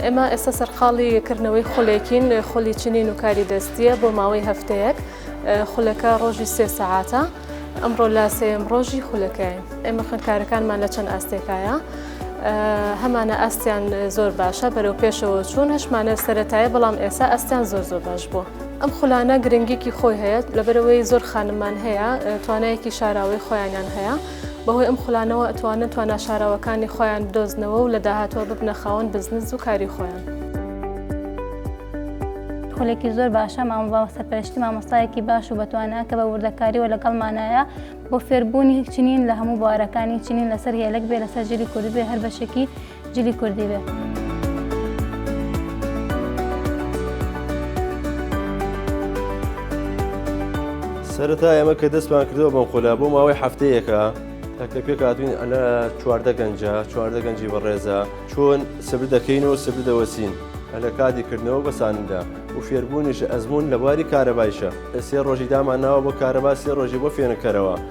ئێمە ئێستا سەرقاڵی کردنەوەی خولێکین خولی چنین و کاری دەستیە بۆ ماوەی هەفتەیەک خولەکە ڕۆژی سێ سەعاتە ئەمڕۆ لا سێم ڕۆژی خولەکەی ئێمە خوێندکارەکانمان لە چەند ئاستێکایە هەمانە ئاستیان زۆر باشە بەرەو پێشەوە چوون هەشمانە سەتایە بەڵام ئێسا ئەستیان زۆر زۆر باش بووە. ئەم خولانە گرنگیکی خۆی هەیە لەبەرەوەی زۆر خانمان هەیە توانایەکی شاراوەی خۆیانیان هەیە بەهۆی ئەم خولانەوە ئەتوانن توانا شاراوەکانی خۆیان بدۆزنەوە و لە داهاتوە ببنە خاوەن بزنس و کاری خۆیان. خولێکی زۆر باشە مامۆبا سەرپەرشتی مامۆستایەکی باش و بەتوانە کە بە وردەکاریەوە لەگەڵمانایە بۆ فێربوونی چنین لە هەموو بوارەکانی چنین لەسەر هێلک بێ لەسەر ژیری کوردبێ هەر بەشێکی جلی کوردی بێ. سەرەتا ئێمە کە دەستمان کردەوە بەم خۆلا بۆ ماوەی هەفتەیەەکە تاکە پێکاتوین ئەلە چواردە گەنجە چواردە گەنجی بەڕێزە چۆن سبر دەکەین و سبر دەوەسین لە کاتی کردنەوە بەساندا و فێربوونیش ئەزمون لە بواری کارەبایشە سێ ڕۆژی دامانناوە بۆ کارەبا سێ ڕۆژی بۆ فێنکەرەوە